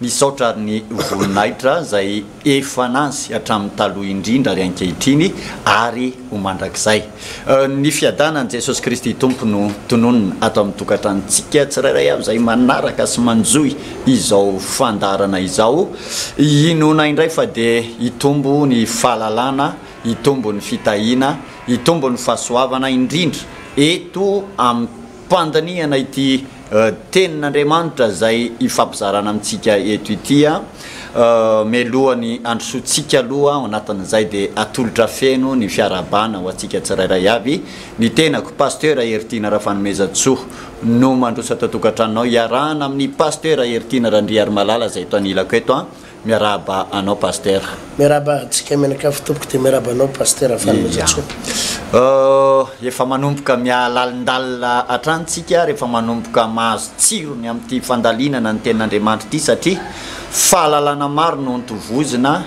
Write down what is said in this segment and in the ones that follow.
Misaotra ary ny voninahitra izay efa an'azy hatramin'ny taloha indrindra ary ankehitriny ary ho mandrakizay. Ny fiadanan'i Jesosy Kristy Tompo no tononina ato amin'ny tokantranontsika tsirairay avy izay manaraka sy manjohy izao fandaharana izao. Inoana indray fa dia hitombo ny fahalalana, hitombo ny fitahiana, hitombo ny fahasoavana indrindra eto amin'ny. Mpandinihana ity Tenin'Andriamanitra izay ifampizarana amintsika eto ity. Mialoha ny handrosoantsika aloha ao anatin'izay dia atolotra feno ny fiarahabana ho antsika tsirairay avy. Ny tenako, Pasteur Heritiana Rafanomezantsoa, no mandroso ato an-tokantranonao iarahana amin'i Pasteur Heritiana Randriarimalala izay eto anilako eto. Miarahaba anao Pasitera. Miarahaba antsika mianakavy tompoko dia miarahaba anao Pasitera Valomezatsôpy. Efa manomboka mihalalindalina hatrany tsika rehefa manomboka mahazo tsirony amin'ity fandalinana ny tenin'Andriamanitra ity satria fahalalana maro no ntovozina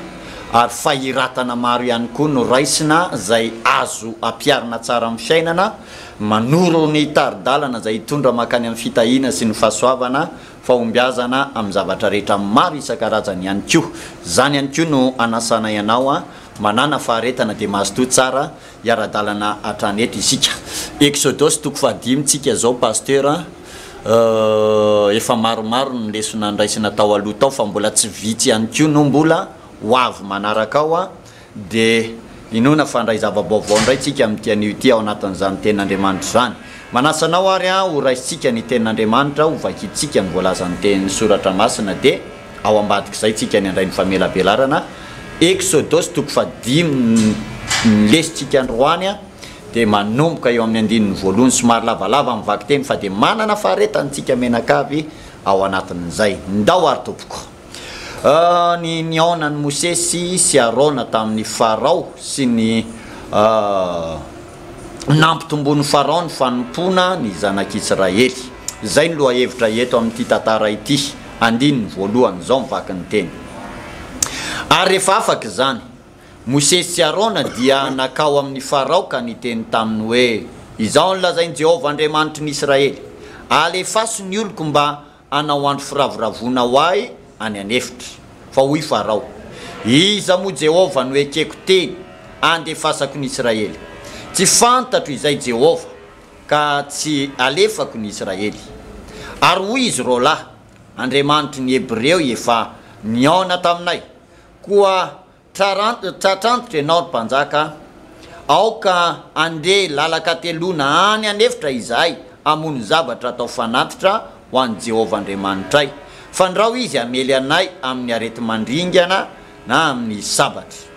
ary fahiratana maro ihany koa no raisina izay azo ampiharina tsara amin'ny fiainana manoro ny tari-dalana izay hitondra mankany amin'ny fitahiana sy ny fahasoavana fahombiazana amin'ny zavatra rehetra maro isan-karazany ihany koa. Izany ihany koa no anasanay anao manana faharetana dia mazotoa tsara hiara-dalana hatrany eto isika. Eksodosy toko fahadimy tsika izao Pasteur a! efa maromaro ny lesona nraisina tao aloha tao fa mbola tsy vitsy ihany koa no mbola ho avy manaraka ao dia inoana fa handray zava-baovao indray tsika amin'ity anio ity ao anatin'izany Tenin'Andriamanitra izany. Manasa anao ary aho ho raisintsika ny Tenin'Andriamanitra, ho vakintsika ny voalazan'ny Tenin'ny Soratra Masina, dia ao ambadik'izay tsika ny handray ny famelabelarana. Eksodosy toko fahadimy ny lesintsika androany dia manomboka eo amin'ny andininy voalohany, somary lavalava amin'ny vakiteny fa dia manana faharetana tsika mianakavy ao anatin'izay. Ndao ary tompoko. Ny nihaonan'i Mosesy sy Arona tamin'i Farao sy ny nampitomboin'i Farao ny fanompoana ny Zanak'Isiraely. Izay no lohahevitra eto amin'ity tantara ity, andininy voalohany, izao ny vakin'ny teny. Ary rehefa afaka izany, Mosesy sy Arona dia nankao amin'i Farao ka niteny taminy hoe, Izao no lazain'i Jehovah Andriamanitry ny Isiraely, Alefaso ny oloko mba Hanao andro firavoravoana ho ahy any an'efitra. Fa hoy Farao, Iza moa Jehovah no ekeko teny handefasako ny Israely? Tsy fantatro izay Jehovah, ka tsy alefako ny Israely. Ary hoy izy roalahy, Andriamanitry ny Hebreo efa nihaona taminay, koa Tratra antitra ianao ry mpanjaka a! Aoka handeha lalan-kateloana any an'efitra izahay hamono zavatra atao fanatitra ho an'i Jehovah Andriamanitray. Fandrao izy hamely anay amin'ny areti-mandringana na amin'ny sabatra.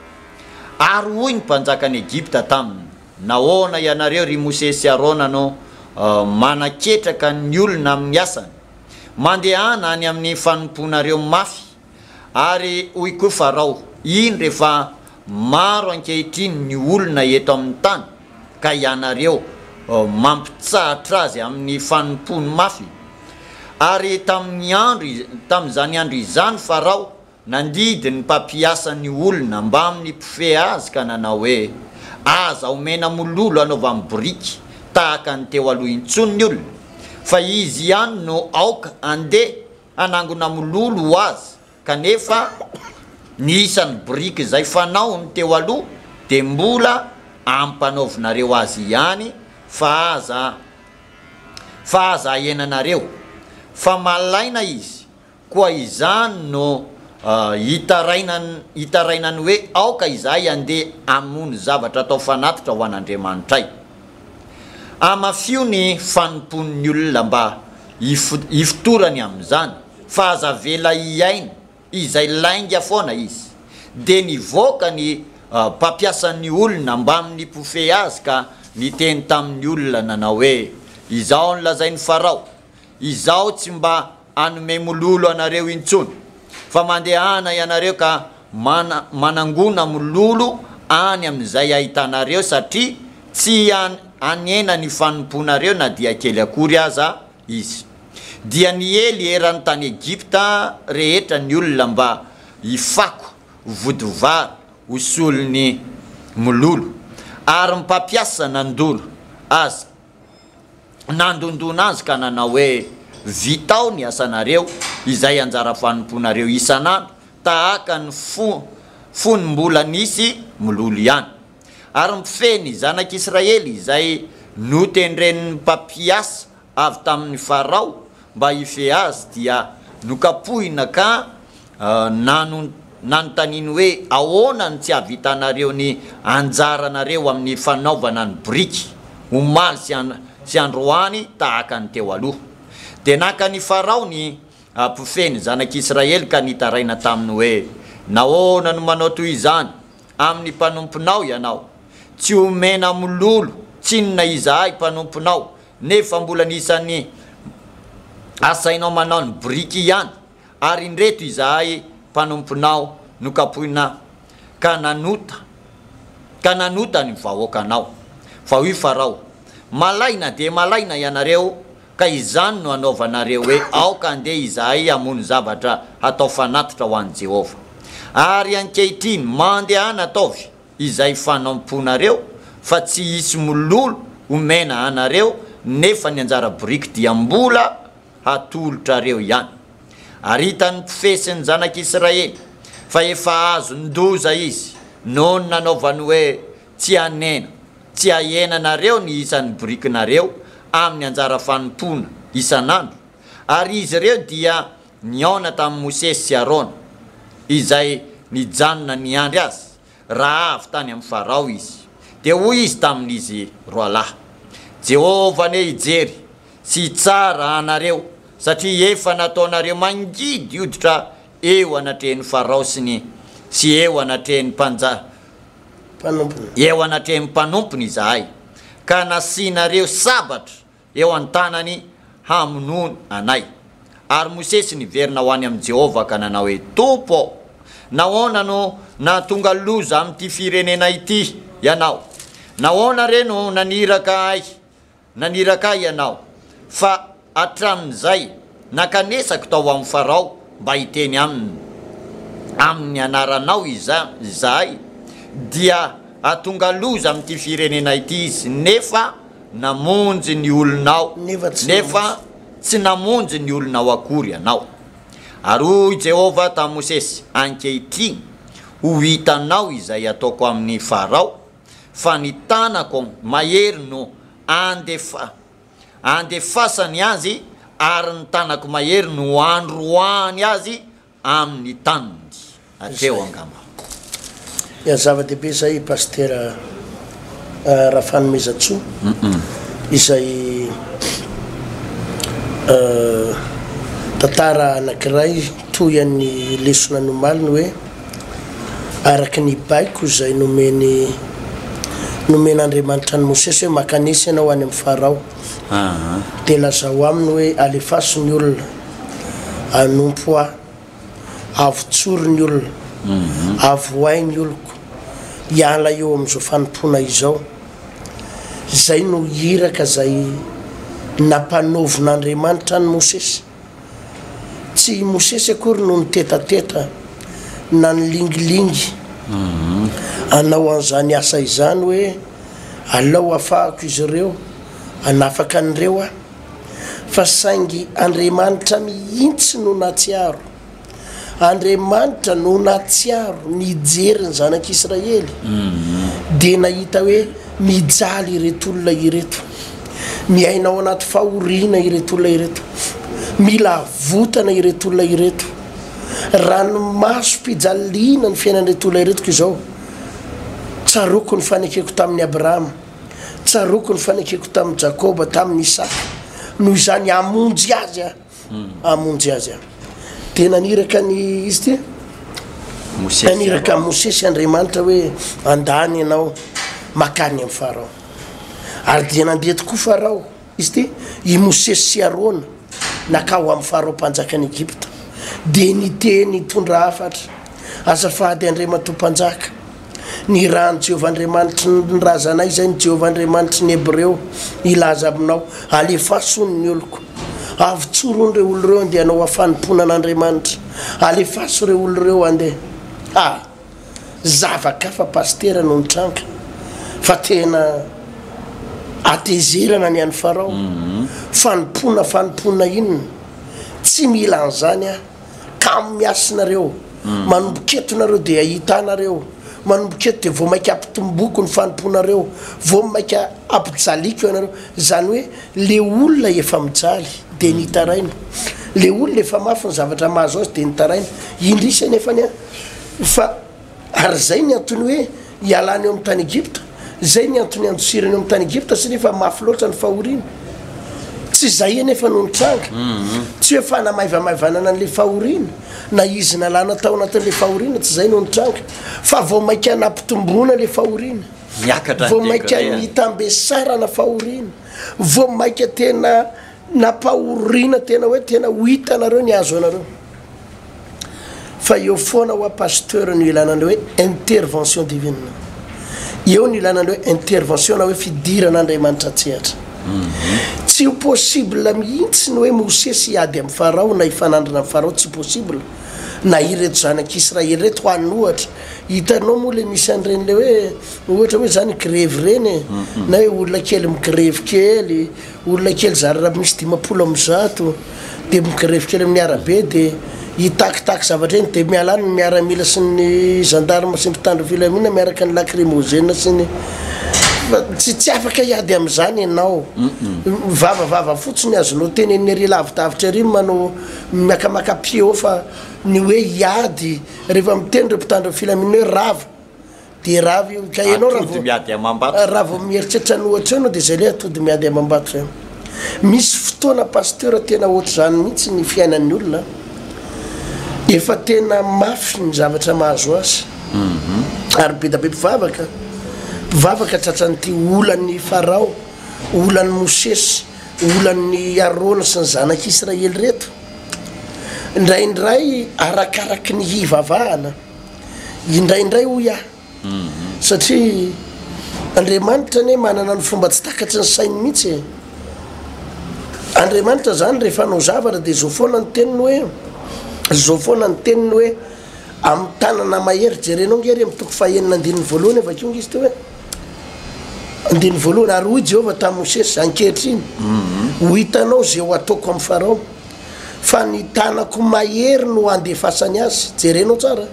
Ary hoy ny mpanjakan'i Egypta taminy, Nahoana ianareo, ry Mosesy sy Arona, no manaketraka ny olona amin'ny asany? Mandehana any amin'ny fanompoanareo mafy! Ary hoy koa Farao, Indro efa maro ankehitriny ny olona eto amin'ny tany, ka ianareo mampitsahatra azy amin'ny fanompoany mafy. Ary tamin'ny andro, tamin'izany andro izany Farao nandidy ny mpampiasany olona mbamin'ny mpifehy azy ka nanao hoe, Aza omena mololo anaovany boriky tahaka ny teo aloha intsony ny olona, fa izy ihany no aoka handeha, hanangona mololo ho azy kanefa ny isan'ny biriky izay fanaony teo aloha dia mbola ampanaovinareo azy ihany fa aza fa aza ahenanareo fa malaina izy koa izany no hitarainany hoe aoka izahay andeha hamono zavatra atao fanatitra ho an'Andriamanitray. Amafio ny fanompoan'ny olona mba hifotorany amin'izany fa aza avela hihaino izay lainga foana izy dia nivoaka ny mpampiasan'ny olona mbamin'ny mpofehy azy ka niteny tamin'ny olona nanao hoe, Izao no lazain'i Farao, Izaho tsy mba hanome mololo anareo intsony fa mandehana ianareo ka manangona mololo any amin'izay ahitanareo satria tsy hanena ny fanompoanareo na dia kely akory aza izy. Dia niely eran'ny tany Egypta rehetra ny olona mba hifako vody vary ho solon'ny mololo, ary ny mpampiasa nandoro azy nandondona azy ka nanao hoe, Vitao ny asanareo, izay anjara fanompoanareo isan'andro, tahaka ny fony mbola nisy mololo ihany. Ary mpifehy ny Zanak'i Israely izay notendren'ny mpampiasa avy tamin'i Farao mba hifehy azy dia nokapohina ka Nanon, nanontaniany hoe, Ahoana no tsy hahavitanareo ny anjaranareo amin'ny fanaovana ny biriky, omaly sy an, sy androany tahaka ny teo aloha? Dia naka an'i Farao ny mpifehy ny zanak'Israely ka nitaraina taminy hoe, Nahoana no manao toy izany amin'ny mpanomponao ianao? Tsy omena mololo tsinona izahay mpanomponao, nefa mbola ny isan'ny asainao manao ny biriky ihany ary indreto izahay mpanomponao nokapohina ka nanota ka nanota ny vahoakanao. Fa hoy Farao, Malaina dia malaina ianareo, ka izany no hanaovanareo hoe aoka handeha izahay hamono zavatra hatao fanatitra ho an'i Jehovah. Ary ankehitriny, mandehana ataovy izay fanompoanareo, fa tsy hisy mololo homena anareo, nefa ny anjara boriky dia mbola hatolotrareo ihany. Ary hitan'ny mpifehy sy ny zanak'Israely fa efa azon-doza izy noho ny nanaovany hoe, Tsy hanena, tsy hahena nareo ny isan'ny borikinareo amin'ny anjara fanompoana isan'andro, ary izy ireo dia nihaona tamin'i Mosesy sy Arona, izay nijanona niandry azy Raha avy tany amin'ny Farao izy, dia hoy izy tamin'izy roalahy, Jehovah anie hijery sy hitsara anareo, satria efa nataonareo mangidy hoditra eo anatrehan'i Farao sy ny sy eo anatrehan'ny mpanja, mpanompony, eo anatrehan'ny mpanompony izahay, ka nasianareo sabatra eo an-tanany hamonoana anay. Ary Mosesy niverina ho any amin'i Jehovah ka nanao hoe, Tompo ô, nahoana no nahatonga loza amin'ity firenena ity ianao? Nahoana re no naniraka ahy, naniraka ahy ianao, fa hatramin'izay Nakanesako tao amin'ny Farao mba hiteny aminy amin'ny anaranao izahay, dia hahatonga loza amin'ity firenena ity izy, nefa namonjy ny olonao, nefa tsy namonjy ny olonao akory ianao. Ary hoy Jehovah tamin'i Mosesy, Ankehitriny, ho hitanao izay hataoko amin'i Farao, fa ny tanako mahery no handefa. Andefasany azy ary ny tanako mahery no handroahany azy amin'ny taniny. Hatreo angamba. Ya zava-dehibe izay Pasitera Rafanomezantsoa izay tantara anankiray toy an'ny lesona nomaliny hoe. araka ny baiko izay nomeny nomen'Andriamanitra an'i Mosesy hoe, Mankanesa ianao any amin'i Farao, dia lazao aminy hoe, Alefaso ny olona, anompo ahy, avotsory ny olona, avohay ny oloko, hiala eo amin'izao fanompoana izao. Izay no iraka izay nampanaovin'Andriamanitra an'i Mosesy. Tsy i Mosesy akory no nitetateta na nilingilingy hanao an'izany asa izany hoe, Alao hafahako izy ireo, hanafaka an'ireo aho. Fa saingy Andriamanitra mihitsy no nahatsiaro. Andriamanitra no nahatsiaro nijery ny zanak'Israely dia nahita hoe mijaly ireto olona ireto, miaina ao anaty fahoriana ireto olona ireto, mila avotana ireto olona ireto, ranomasom-pijaliana ny fiainan'ireto olona ireto koa izao. Tsaroako ny fanekeko tamin'i Abrahama, tsaroako ny fanekeko tamin'i Jakoba, tamin'i Isaka, noho izany hamonjy azy aho. hamonjy azy ary dia naniraka ny izy ty naniraka ny mosesy andriamanitra hoe andany ianao makany amin'ny farao ary dia nandeha tokoa farao izy ty i mosesy sy arona nakao amin'ny farao mpanjakan'i egypta dia niteny tondra hafatra azafady andriamatoa mpanjaka Ny ra an'i Jehovah Andriamanitry ny razanay izay ny Jehovah Andriamanitry ny Hebreo hilaza aminao, Alefaso ny oloko. Avy tsoron' ireo olo ireo handeha hanao afanompoana an' Andriamanitra. Alefaso ireo olo ireo handeha. Ha! Zava-kafa Pasitera no nitranga fa tena hatezerana ny an'i Farao. Fanompoana fanompoana inona? Tsy mila an'izany aho. Kamo miasy nareo. Manomboka eto nareo dia hahita ahy nareo. Manomboka eto dia vao maika hampitomboko ny fanompoanareo. Vao maika hampijaliko ianareo. Izany hoe le olona efa mijaly dia nitaraina. Le olona efa mafy ny zavatra mahazo azy dia nitaraina. Indrisy anefa anie fa. Ary izay ny antony hoe ialany eo amin'ny tany Egypta, izay ny antony iandosirany eo amin'ny tany Egypta, satria efa mafy loatra ny fahoriana. Tsy izay anefa no nitranga. Mm-hmm. Tsy hoe fanamaivamaivanana an'ilay fahoriana, na izy nalana tao anatin'ilay fahoriana, tsy izay no nitranga. Fa vao mainka nampitomboana ilay fahoriana. Niakatra ny Vao mainka degré-ny. nitambesarana fahoriana. Vao mainka tena nampahoriana tena hoe tena ho hitanareo ny hahazo anareo. Fa eo foana hoa Pasteur no ilana an'ilay hoe intervention divine. Eo no ilana an'ilay hoe intervention na hoe fidiran'Andriamanitra an-tsehatra. Tsy ho possible mihitsy ny hoe Mosesy hiady amin'i Farao na hifanandrina amin'i Farao, tsy possible. Na ireto zanak'Israely ireto ho an'ny ohatra. Hitanao moa ilay misy an'ireny ilay hoe ohatra hoe izany grevy ireny e, na hoe olona kely migrevy kely. Olona kely zary raha misy dimampolo amby zato dia migrevy kely amin'ny arabe dia hitakitaky zavatra eny dia miala any ny miaramila sy ny gendarme sy ny mpitandro filaminana miaraka ny lacrymogène sy ny tsy tsy afaka hiady amin'izany ianao vava vava fotsiny azonao tenenina ery lavidavitra ery manao miakamaka pied haut fa ny hoe hiady rehefa miteny ireo mpitandro ny filaminana hoe rava Dia raha avy eo, ka ianao raha Atody vao, miady amam-bato. raha vao mieritreritra ny ohatr'izao ianao dia izay ilay atody miady amam-bato izay. Misy fotoana Pasteur tena ohatr'izany mihitsy ny fiainan'ny olona an. Efa tena mafy ny zavatra mahazo azy. Ary be da be mpivavaka, mpivavaka tratran'ity olan'i Farao, olan'i Mosesy, olan'i Arona sy ny zanak'Israely ireto. Indraindray arakaraky ny hivavahana. indraindray hoy aho satria Andriamanitra anie manana ny fomba tsy takatry ny sainy mihitsy e Andriamanitra zany rehefa hanao zavatra dia zao foana ny teniny hoe zao foana ny teniny hoe amin'ny tanana mahery jerenao nge re mitoko fahenina andininy voalohany avy akeo nge izy teo hoe andininy voalohany ary hoy Jehovah tamin'i Mosesy ankehitriny ho hitanao zay ho ataoko amin'ny Farao fa ny tanako mahery no andefasany azy, jereno tsara,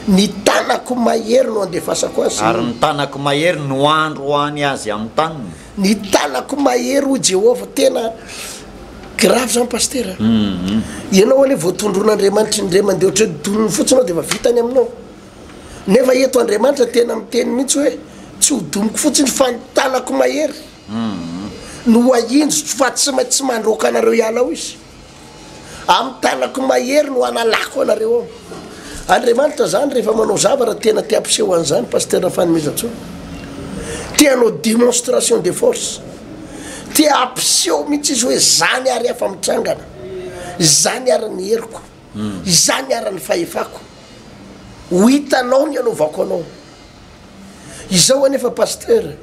ny tanako mahery no andefasako azy. Ary ny tanako mahery no androany azy amin'ny taniny. Ny tanako mahery hoy Jehovah, tena grave zany Pastera a! Ianao anie voatondron'Andriamanitra indray mandeha ohatry ny donony fotsiny aho dia efa vita ny aminao. Nefa eto Andriamanitra tena miteny mihitsy hoe tsy ho domiko fotsiny fa ny tanako mahery. Nohainjiko fa tsy maintsy mandroaka anareo hiala ao izy. Amin'ny tanako mahery no hanalako anareo ao. Andriamanitra izany rehefa manao zavatra tena te hampiseho an'izany Pasteur Fanomezantsoa. Te hanao demonstration de force. Te hampiseho mihitsy izy hoe izany ary afa mitsangana. Izany ary ny heriko. Izany ary ny fahefako. Ho hitanao ny hanaovako anao. Izao anefa Pasteur,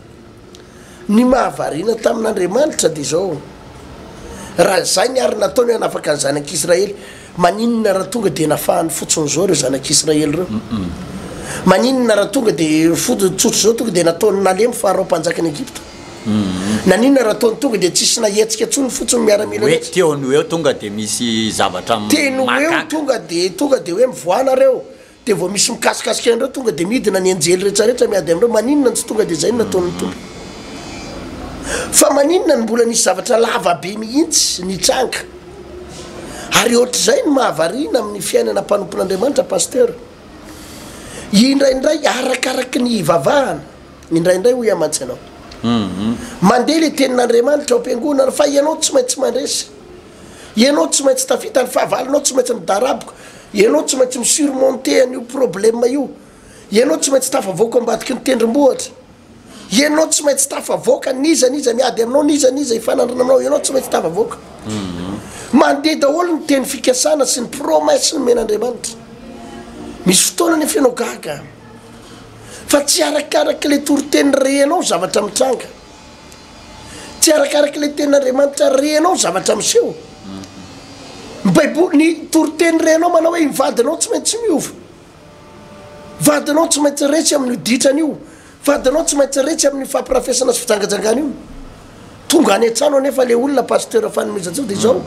ny mahavariana tamin'Andriamanitra dia izao, raha izay ny ary nataony hoe hanafaka ny zanak'Israely, maninona raha tonga dia nafahany fotsiny izao ireo zanak'Israely ireo? Maninona raha tonga dia fotsiny tsotra izao tonga dia nataony nalemy Farao mpanjakan'i Egypta? Naninona raha ataony tonga dia tsisy nahetsika intsony fotsiny ny miaramila rehetra? Hoe teny ho eo tonga dia misy zavatra mahagaga. Teny ho eo tonga dia tonga dia hoe mivoaha nareo, Dia vao misy mikasikasika anareo tonga dia midina ny anjely rehetrarehetra miady aminareo, maninona no tsy tonga dia izay no nataon'ny Tompo? Fa maninona no mbola nisy zavatra lava be mihitsy nitranga? Ary ohatr'izay no mahavariana amin'ny fiainana mpanompon'Andriamanitra Pasteur. Indraindray arakaraky ny hivavahana, indraindray hoy aho mantsy ianao, mandeha ilay tenin'Andriamanitra ao am-piangonana fa ianao tsy maintsy mandresy. Ianao tsy maintsy tafita, ny fahavalonao tsy maintsy midaraboka, ianao tsy maintsy mi-surmonter an'io problème io, ianao tsy maintsy tafavoaka ambadiky ny tendrombohitra, ianao tsy maintsy tafavoaka n'iza n'iza miady aminao, n'iza n'iza hifanandrina aminao, ianao tsy maintsy tafavoaka. Mandeha daholo ny teny fikasana sy ny promesse nomen'Andriamanitra. Misy fotoana anefa ianao gaga fa tsy arakarak'ilay toriteny rehenao zavatra mitranga. tsy arakaraka ilay tenin'Andriamanitra renao ny zavatra miseho. Ny Baiboly, ny toriteny renao manao hoe ny vadinao tsy maintsy miova. Vadinao tsy maintsy resy amin'io ditrany io. Vadinao tsy maintsy resy amin'ny fampirafesana sy fijangajangana io. Tonga any an-trano anefa ilay olona pasteur fanomezantsika dia izao.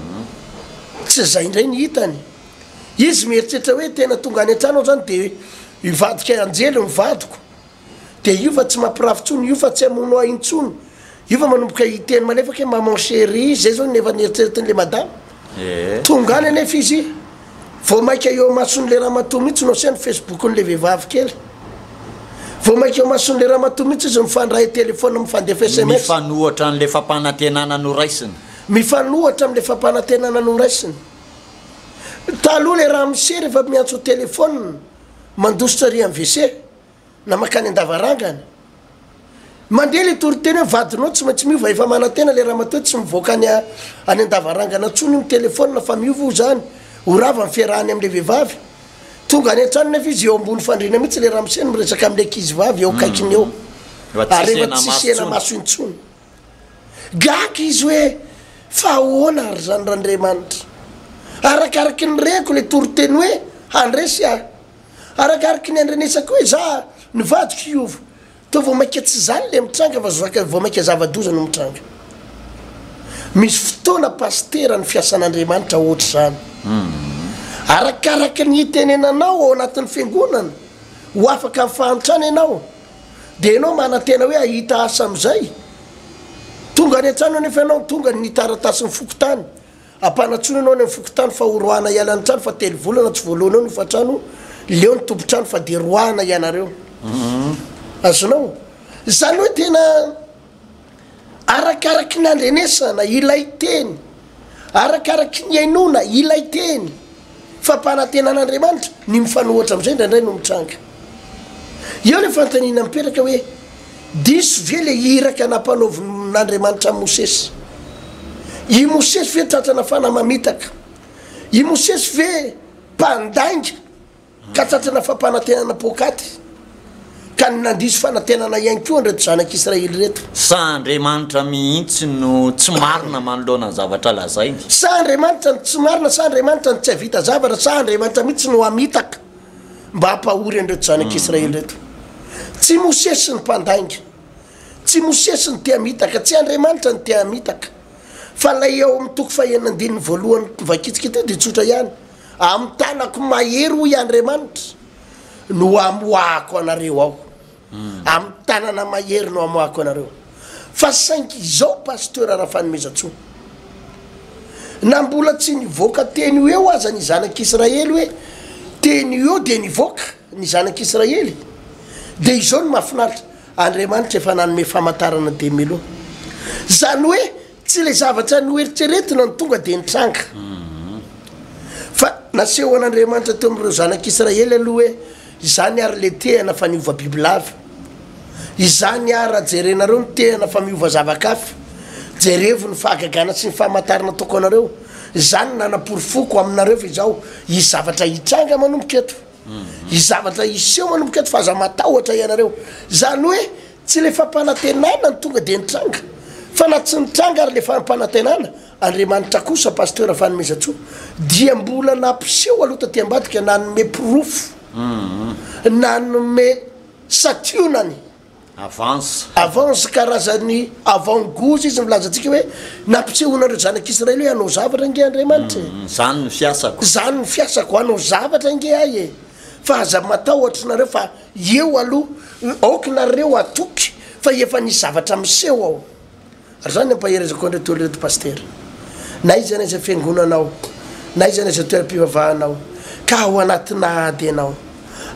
Tsy izay indray ny hitany. Izy mieritreritra hoe tena tonga any an-trano aho izany dia hivadika anjely ny vadiko. dia io fa tsy mampirafy intsony, io fa tsy hamono ahy intsony, io fa manomboka hiteny malefaka hoe maman cherie, izay izao no efa nieritreretin'ilay madama. Tonga any anefa izy, vao mainka eo imason'ilay ramatoa mihitsy no asehany Facebook-n'ilay vehivavy kely. Vao mainka eo imason'ilay ramatoa mihitsy izy mifandray telefaonina, mifandefa sms. Mifanohitra an'ilay fampanantenana noraisiny. Mifanohitra amin'ilay fampanantenana noraisiny. Taloha ilay ramose rehefa miantso telefaonina, mandositra ary amin'ny wc, na makany andavarangana mandeha le toriteny hoe vadinao tsy maintsy miova efa manantena le ramatoa tsy mivoaka any any andavarangana ntsony ny telefona fa miova ho zany ho rava ny fiarahany amle vehivavy tonga any an-trano nefa izy eo ambony fandriana mihitsy le ramose miresaka amle ankizy vavy eo akaikiny eo arefa tsy hisy ena maso intsony gaga izy hoe fa ahoana ary zany randriamanitra arakaraky ny reko le toriteny hoe handresy ahy Arakaraky ny andrenesako hoe za ny vadiko hiova toa vao maika tsy zany le mitranga fa zaka vao maika zavadoza no mitranga misy fotoana pasitera ny fiasan'Andriamanitra ohatra zany arakaraky ny itenenanao ao anatin'ny fiangonana ho afaka amin'ny fahantrana ianao de ianao manantena hoe ahita asa amizay tonga any antrano anefa ianao tonga ny taratasin'ny fokontany Ampanantsoina ianao any amin'ny fokontany fa ho roahana hiala ny trano fa telo volana tsy voaloana eo ny hofantrano, leo ny tompon-trano fa dia roahana hianareo. Azonao? Izany hoe tena arakaraky ny andrenesana ilay teny, arakaraky ny hainoana ilay teny. Fampanantenan'Andriamanitra ny mifanohitra amin'izay indraindray no mitranga. Eo ilay fanontaniana mipetraka hoe, Diso ve ilay iraka nampanaovin'Andriamanitra an'i Mosesy? I Mosesy ve tratra nafana mamitaka? I Mosesy ve mpandainga ka tratra nafapanantenana poakaty? ka ny nandiso fanantenana ihany koa an'ireto zanak'Israely ireto. Sa Andriamanitra mihitsy no tsy marina manoloana ny zavatra lazainy? Sa Andriamanitra no tsy marina? Sa Andriamanitra no tsy hahavita zavatra? Sa Andriamanitra mihitsy no hamitaka mba hampahory an'ireto zanak'Israely hmm. ireto? Tsy Mosesy no mpandainga, tsy Mosesy no te hamitaka, tsy Andriamanitra no te hamitaka. Fa ilay ao amin'ny toko fahenina andininy voalohany vakitsika ity dia tsotra ihany. Amin'ny tanako mahery hoy Andriamanitra. no hamoahako anareo ao, amin'ny tanana mahery no hamoahako anareo. Fa saingy izao Pasteur Rafanomezantsoa, na mbola tsy nivoaka teny ho eo aza ny zanak'Israely hoe teny ho eo dia nivoaka ny zanak'Israely, dia izao no mahafinaritra, Andriamanitra efa nanome famantarana de meloa, izany hoe. Tsy ilay zavatra noeritreretina no tonga dia nitranga, fa nasehon'Andriamanitra teo amin'ireo zanak'Israely aloha hoe, Izany àry ilay tehana fa niova bibilava. Izany àry raha jerenareo ny tehana fa miova zava-kafa. Jerevo ny fahagagana sy ny famantarana ataoko anareo. Izany no nanaporofoko aminareo fa izao hisy zavatra hitranga manomboka eto. Hisy zavatra hiseho manomboka eto fa aza matahotra ianareo. Izany hoe. Tsy ilay fampanantenana no tonga dia nitranga fa na tsy nitranga ary ilay fampanantenana, Andriamanitra kosa Pasteur Fanomezantsoa dia mbola nampiseho aloha taty ambadika nanome porofo, nanome sationany, Avance. avance karazany avant goût izy milaza antsika hoe nampisehoana an'ireo zanak'i Israely hoe hanao zavatra ange Andriamanitra e. Izany no fiasako. Izany no fiasako, hanao zavatra ange ahy e, fa aza matahotra nareo fa. Eo aloha, aoka nareo hatoky fa efa nisy zavatra miseho ao. Ary izany ampaherezako an'ireo telo ireto Pasitera. Na iza na iza fiangonana ao, na iza na iza toeram-pivavahana ao, ka ao anatina ady ianao,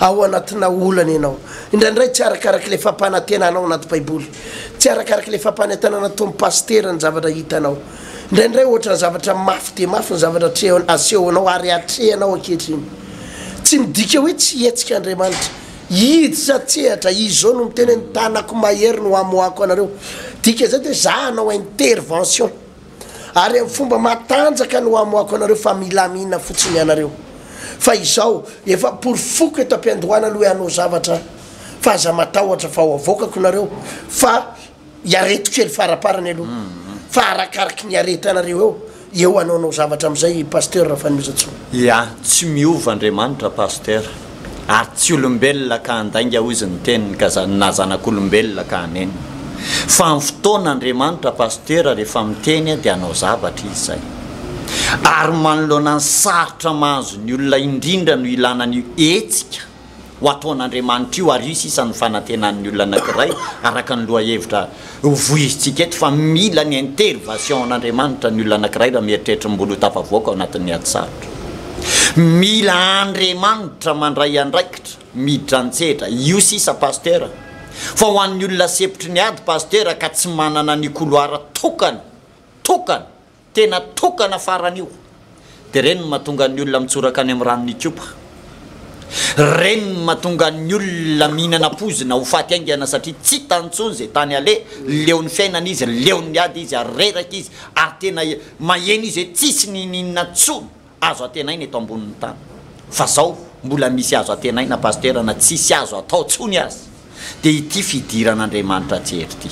ao anatina olana ianao, indraindray tsy arakaraka ilay fampanantenanao anaty Baiboly, tsy arakaraka ilay fampanentanana ataon'ny Pasitera ny zavatra hitanao, Indraindray ohatran'ny zavatra mafy dia mafy ny zavatra atrehony, asehonao ary atrehanao ankehitriny. Tsy midika hoe tsy hihetsika Andriamanitra. Hiditra an-tsehatra, Izy izao no miteny hoe, Ny tanako mahery no hamoahako anareo. Dika izany dia izaho hanao intervention. Ary amin'ny fomba matanjaka no hamoahako anareo fa milamina fotsiny ianareo. Fa izao, efa porofoko eto am-piandohana aloha hoe hanao zavatra aho. Fa aza matahotra fa ho avoakako nareo. Fa. iareto kely faraparany aloha fa arakaraky ny iaretanareo eo eo hanaonao zavatra amizay i Pasteur Rafanomezantsoa. Ya, tsy miova Andriamanitra Pasteur, ary tsy olombelona ka handainga hoy izy ny teniny ka na zanak'olombelona ka hanenina. Fa amin'ny fotoana Andriamanitra Pasteur rehefa miteny dia hanao zavatra izy izay. Ary manoloana ny sarotra mahazo ny olona indrindra no ilana an'io hetsika ho ataon'Andriamanitra io, ary io sisa no fanantenan'ny olona anankiray, araka ny lohahevitra hovoizintsika eto, fa mila ny intervation'Andriamanitra ny olona anankiray raha mieritreritra ny mbola ho tafavoaka ao anatin'ny ady sarotra. Mila Andriamanitra mandray andraikitra, miditra an-tsehatra. Io sisa Pasteur. Fa ho an'ny olona sempotry ny ady Pasteur ka tsy manana ny couloir tokana, tokana, Tena tokana farany io. Dia ireny no mahatonga ny olona mitsoraka any amin'ny ranon'i Ikopa. Ireny no mahatonga ny olona mihinana poizina ho faty haingana satria tsy hitany intsony izay tany aleha, leon'ny fiainana izy, leon'ny ady izy ary reraka izy ary tena maheno izy hoe tsisy n'inon'inona intsony. azo antenaina eto ambonin'ny tany fa zao mbola misy azo antenaina Pasteur na tsisy azo atao tsony aza dia ity fidiran'Andriamanitra an-tsehatra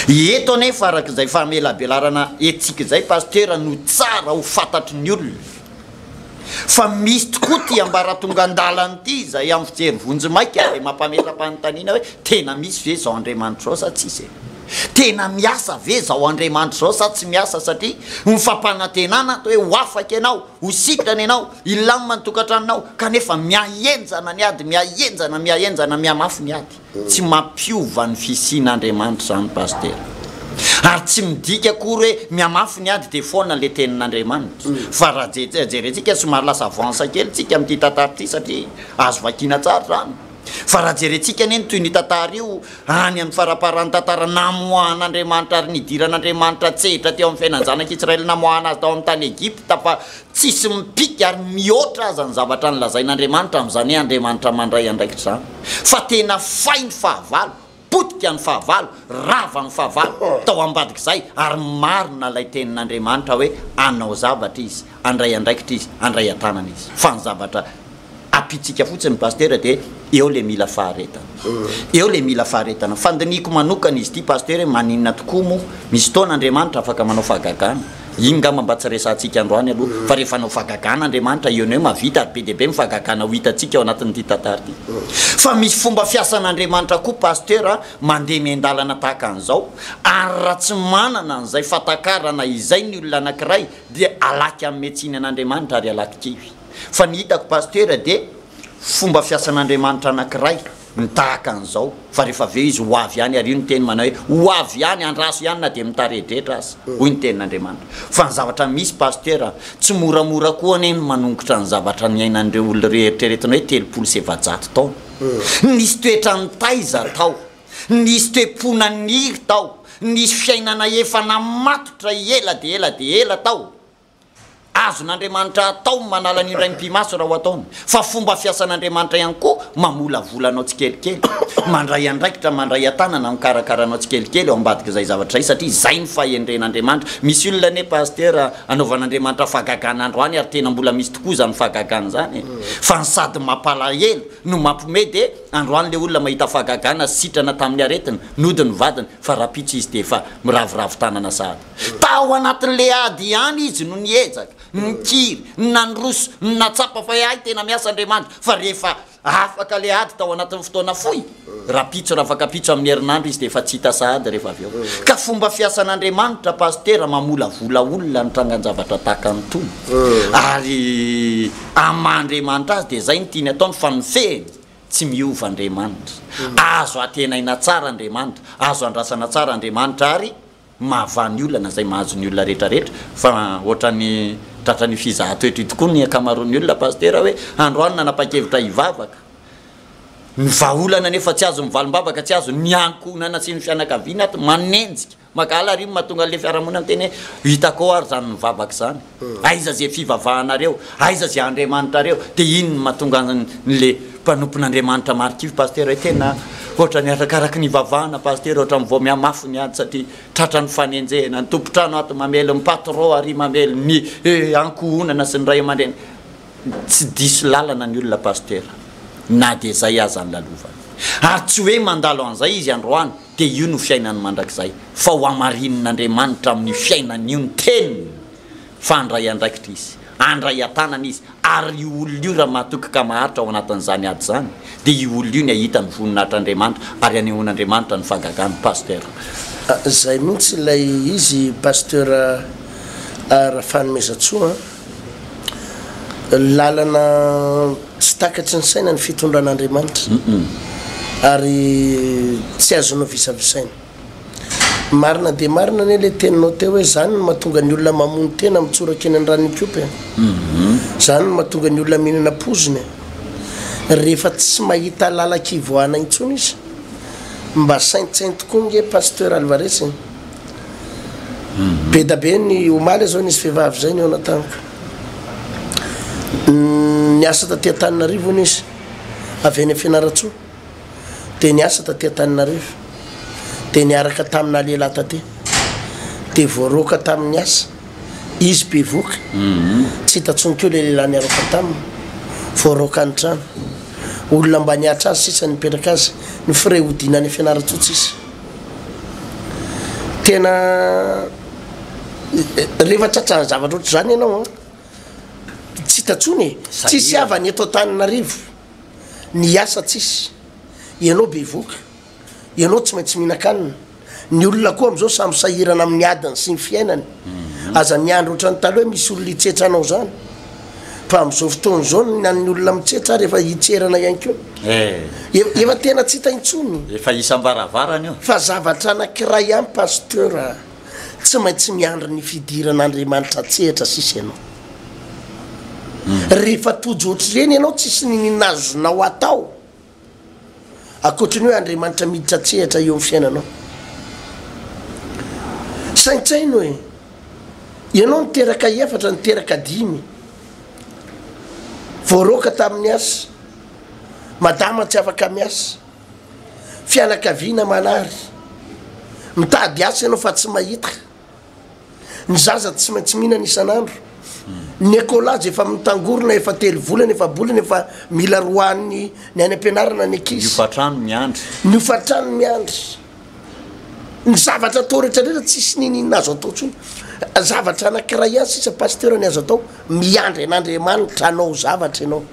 ity eto anefa araka izay famelabelarana etsika izay Pasteur no tsara ho fantatry ny olona fa misy tokoa ity ambaratongan-dalana ity izay amin'ny fijery vonjimaika dia mampametra-panontaniana hoe tena misy ve izao Andriamanitra izao sa tsisy e? Tena miasa ve izao Andriamanitra izao sa tsy miasa satria ny fampanantenana atao hoe ho afaka ianao, ho sitrana ianao, hilamina ny tokantranonao kanefa mihahenjana ny ady, mihahenjana, mihahenjana, mihamafy ny ady. Tsy mampiova ny fisian'Andriamanitra izany Pasitera. Ary tsy midika akory hoe mihamafy ny ady dia foana ilay tenin'Andriamanitra. Fa raha jerentsika somary lasa avance kely tsika amin'ity tantara ity satria azo vakiana tsara izany. Fa raha jerentsika anie ny toy ny tantara io, any amin'ny faramparan'ny tantara namoahan'Andriamanitra ary nidiran'Andriamanitra an-tsehatra teo amin'ny fiainan'ny zanak'i Israely namoahana azy tao amin'ny tany Egypta fa tsisy mipika ary mihoatra aza ny zavatra nolazain'Andriamanitra amin'izany Andriamanitra mandray andraikitra izany fa tena fay ny fahavalo potika ny fahavalo, rava ny fahavalo tao ambadik'izay, ary marina ilay tenin'Andriamanitra hoe hanao zavatra Izy, handray andraikitra Izy, handray an-tanana Izy. Fa ny zavatra ampiantsika fotsiny Pasitera dia eo ilay mila faharetana. Eo ilay mila faharetana. Fandinihiko manokana izy ity Pasitera hoe maninona tokoa moa, misy fotoana Andriamanitra afaka manao fahagagana, Iny ngamba mba tsy resahantsika androany aloha fa rehefa hanao fagagana Andriamanitra eo no eo mahavita ary be dia be ny fagagana ho hitantsika ao anatin'ity tantara ity. Fa misy fomba fiasan'Andriamanitra koa Pasteur a, mandeha miandalana tahaka an'izao ary raha tsy manana an'izay fatakarana izay ny olona anankiray dia alaky hanome tsiny an'Andriamanitra ary alaky kivy. Fa ny hitako Pasteur dia fomba fiasan'Andriamanitra anankiray. ny tahaka an'izao fa rehefa avy eo izy ho avy ihany, ary io ny teny manao hoe ho avy ihany, andraso ihany na dia mitaredretra aza, hoy ny tenin'Andriamanitra. Fa ny zavatra misy Pasteur a, tsy moramora koa anie ny manongotra ny zavatra niainan'ireo olona ireo eritreretina hoe telopolo sy efajato taona. Nisy toetran'ny taiza tao, nisy toe-pona niry tao, nisy fiainana efa namatotra ela dia ela dia ela tao. Azon'Andriamanitra atao ny manala ny indray mpi-maso raha ho ataony, fa fomba fiasan'Andriamanitra ihany koa mamolavola anao tsikelikely, mandray andraikitra, mandray an-tanana, mikarakara anao tsikelikely ao ambadik'izay zavatra izay, satria izay no fahendren'Andriamanitra. Misy olona anie Pasitera anaovan'Andriamanitra fahagagana androany ary tena mbola misy tokoa izany fahagagana izany e! Fa ny sady mampalahelo no mampiomehy dia androany ilay olona mahita fahagagana sy sitrana tamin'ny aretina nody ny vadiny fa rahampitso izy dia efa miraviravy tanana sahady Tao anatin'ilay ady ihany izy no niezaka, nikiry, nandroso, nahatsapa fa hay tena miasa Andriamanitra, fa rehefa afaka ilay ady tao anatin'ny fotoana fohy, rapitso rafakapitso amin'ny herinandro izy dia efa tsy hita sahady rehefa avy eo. Ka fomba fiasan'Andriamanitra Pasitera mamolavola olona ny trangan-javatra tahaka an'itony, ary amin'ny maha Andriamanitra Azy dia izay no tiany ataony fa ny fehiny tsy miova Andriamanitra. Azo antenaina tsara Andriamanitra, azo andrasana tsara Andriamanitra ary. mahavaha ny olana izay mahazo ny olona rehetra rehetra fa ohatrany tratran'io fizahatoetra io tokoa ny ankamaroan'ny olona Pasitera hoe androany nanapa-kevitra hivavaka ny vahaolana nefa tsy azon'ny valimbavaka tsy azon'ny ny ankohonana sy ny fianakaviana ato manenjika maka alarimo mahatonga an'ilay fiarahamonina miteny hoe hitako ao ary izany nivavaka izany Aiza ze fivavahanareo, aiza ze Andriamanitrareo, de inn no mahatonga an le mpanompon'Andriamanitra marikivy Pasteur eh, tena ohatrany arakaraky ny ivavahana Pasteur ohatrany vao mihamafy ny ady satria tratra ny fanenjehana, ny tompontrano ato mamely ny patron ary mamely ny eh ankohonana sy ny ray amandreny, tsy diso lalana ny olona Pasteur na dia zay aza ny lalovany, ary tsy hoe mandalo anzay izy androany, dia io no fiainany mandrakizay, fa ho hamarinin'Andriamanitra amin'io fiainany io ny teniny fa handray andraikitra izy, handray an-tanana izy, ary io olona io raha mahatoky ka maharitra ao anatin'izany ady izany dia io olona io ny hahita ny voninahitr'Andriamanitra ary hanehoan'Andriamanitra ny fagagany Pasteur. Zay mihitsy ilay izy Pasteur Rafanomezantsoa a. Lalana tsy takatry ny saina ny fitondran'Andriamanitra ary tsy azo novisavisaina. Marina dia marina anie ilay teninao teo hoe izany no mahatonga ny olona mamono tena mitsoraka eny an-dranon-ikopy e. Izany no mahatonga ny olona mihinana poizina e. Rehefa tsy mahita lalan-kivoahana intsony izy. Mba saintsaino tokoa ange Pasteur Alvarez e. Be da be ny omaly izao nisy vehivavy izay ny eo anataniko. Niasa taty Antananarivo hono izy, avy any Fianarantsoa. Dia niasa taty Antananarivo. Dia niaraka tamina lehilahy taty. Dia voaroaka tamin'ny asa. Izy bevoka. Tsy hita intsony koa ilay lehilahy niaraka taminy. Voaroaka ny trano. Olona mba nihatra azy sisa nipetraka azy. Ny frais hodiana any Fianarantsoa tsisy. Tena rehefa tratran'ny zavatra ohatr'izany ianao an, tsy hita intsony e, tsisy havana eto Antananarivo, ny asa tsisy, ianao bevoka, ianao tsy maintsy mihinan-kanina, ny olona koa amin'izao samy sahirana amin'ny adiny sy ny fiainany. Aza miandry ohatran'ny taloha hoe misy olona hitsetra anao izany. Fa amin'izao fotoana izao ny an'ny olona mitsetra ary efa hitserana ihany koa. Eh! Efa tena tsy hita intsony. Efa isam-baravarana io. Fa zavatra anankiray ihany Pasteur a! Tsy maintsy miandry ny fidiran'Andriamanitra an-tsehatra sisa ianao. Rehefa tojo ohatr'ireny ianao tsisy ny azonao atao. Ankoatry ny hoe Andriamanitra miditra an-tsehatra eo amin'ny fiainanao. Saintsaino e! Ianao niteraka efatra, niteraka dimy, voaroaka tamin'ny asa, madama tsy afaka miasa, fianakaviana manary, mitady asa ianao fa tsy mahita, Ny zaza tsy maintsy mihinana isan'andro. Ny écolage efa mitangorona efa telo volana efa bolana efa mila roahan'ny ny any am-pianarana ny ankizy. Ny hofantrano miandry. Ny hofantrano miandry. Ny zavatra atao rehetra rehetra tsisy n'inon'inona azo atao intsony. Zavatra anankiray ihany sisa Pasteur ny azo atao, miandry an'Andriamanitra hanao zavatra ianao.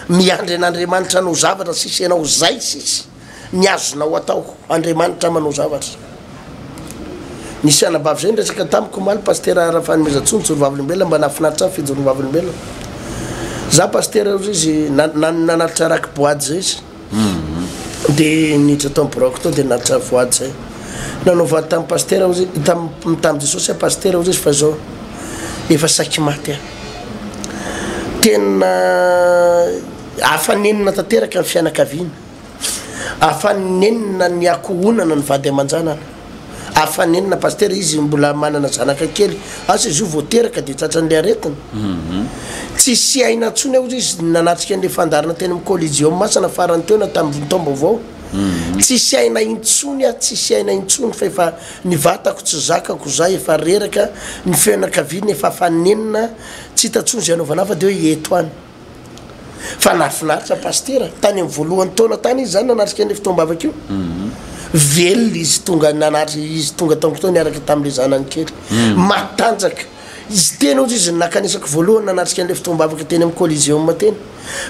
Miandry an'Andriamanitra hanao zavatra sisa ianao, zay sisa. Ny azonao atao, Andriamanitra manao zavatra. Nisy anabavy izay niresaka tamiko omaly, Pasitera Rafanomezantsoa, nijoro vavolombelona, mba nahafinaritra ahy ny fijoroany vavolombelona. Izaho Pasitera hoy izy, nanalitra raky boady izay izy, dia niditra tao amin'ny biraoko tao dia nanalitra voady izay. Nanaovany tamin'i Pasitera hoy izy, tamin'i tamin'i Jesosy aho Pasitera hoy izy fa izao efa saiky maty aho. Tena hafa nenina tanteraka ny fianakaviana. Afanenina ny akohonana ny vady aman-janany. Afanenina Pasitera izy mbola manana zanaka kely. Asa izy io vao teraka dia tratran'ilay aretina. Tsy sy aina intsony aho izy nanatrika an'ilay fandaharana teny amin'ny Collegium Masina farany teo na tamin'ny taom-baovao. Tsy sy aina intsony aho, tsy sy aina intsony fa efa ny vatako tsy zakako, izaho efa reraka, ny fianakaviana efa afanenina, tsy hita intsony izay anaovana ahy fa dia hoe eto any. Fa nahafinaritra Pasitera, tany amin'ny voalohany taona tany izy izany nanatrika an'io fotoam-bavaka io. Velona izy tonga nanatrika izy tonga tao Koto niaraka tamin'ilay zanany kely. Matanjaka. Izy teny hozy izy no nakanesako voalohany nanatrika an'ilay fotoam-bavaka teny amin'ny Coliseum teny.